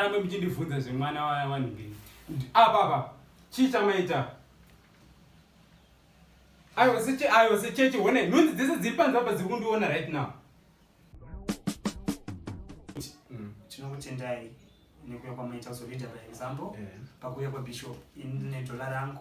rambe muchindivhunza zvemwana wavanhu mberi apa apa chii chamaita ayo seche ayo sechechi one nhunzi dzese dziri panzi apa dziri kundiona right now mm. tinokutendai nekuya kwamaita so leader by example pakuya kwabishop inedhola rangu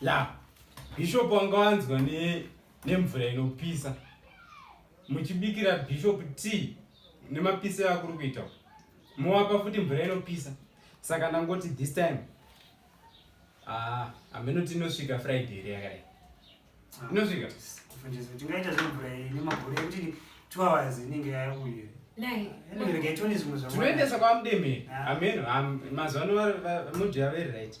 ya bhishopu wanga wanzwa nemvura ne inopisa muchibikira bhishopu tea nemapisiro akuri kuita mowapa futi mvura inopisa saka ndangoti this time ah, hameno tinosvika friday here yakadai ah, inosvika tingaita zvemvura nemagore ekuti two hours inenge yauye tinoendesa kwamudemhe hameno mazuva ano mudhi yaveri right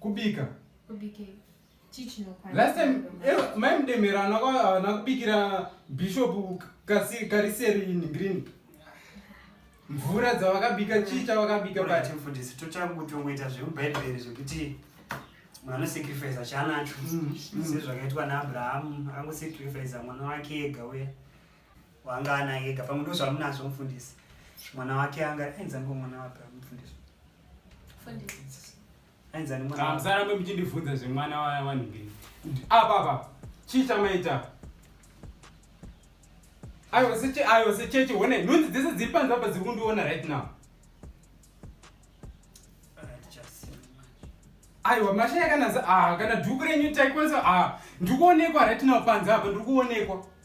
Kubika. Kubika. Last time eh, mai mdemera ana kubikira bishop kasi kariseri in green. Mvura dzavakabika chii chavakabika pa team for this. Tochakutongoita zvekubhaibheri zvekuti munhu anosacrifice chanacho. Mm, mm. Sezvakaitwa naAbraham, akangosacrifice mwana wake ega uya. wanga ana ega pamwe ndo zvamunazvo mufundisi mwana wake anga ainzi ango mwana wapi mufundisi ainzi ani mwana musarambe muchindibvunza zvemwana wavanhu mberi apa apa chii chamaita ayo sechechi one nhunzi dzese dziri panzi apa dziri kundiona right now aiwa masha yakananzi ah, kana dhuku renyu taikwanisa ah, ndikuonekwa right now panzi apa ndikuonekwa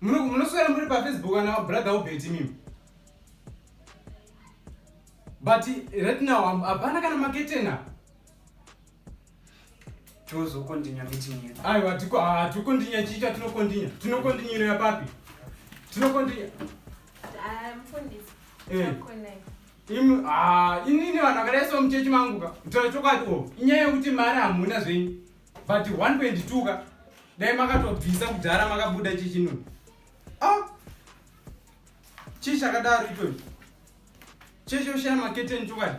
Muri munoswera muri pa Facebook kana brother Obeti mimi. But right now I'm abana kana maketena. Chozo continue meeting yetu. Ayo atiko atu continue chicha tino continue. Tino continue ya papi. Tino continue. Ah mfundisi. Eh. Imi ah inini vanhu vakareso mchechi mangu ka. Mtora chokwadi o. Inyaya yekuti mari hamuna zvenyu. but 1.2 ka dai makatobvisa kudhara makabuda chichino ah! chii chakadaro ichocho chechoshaya maketeni chokwadi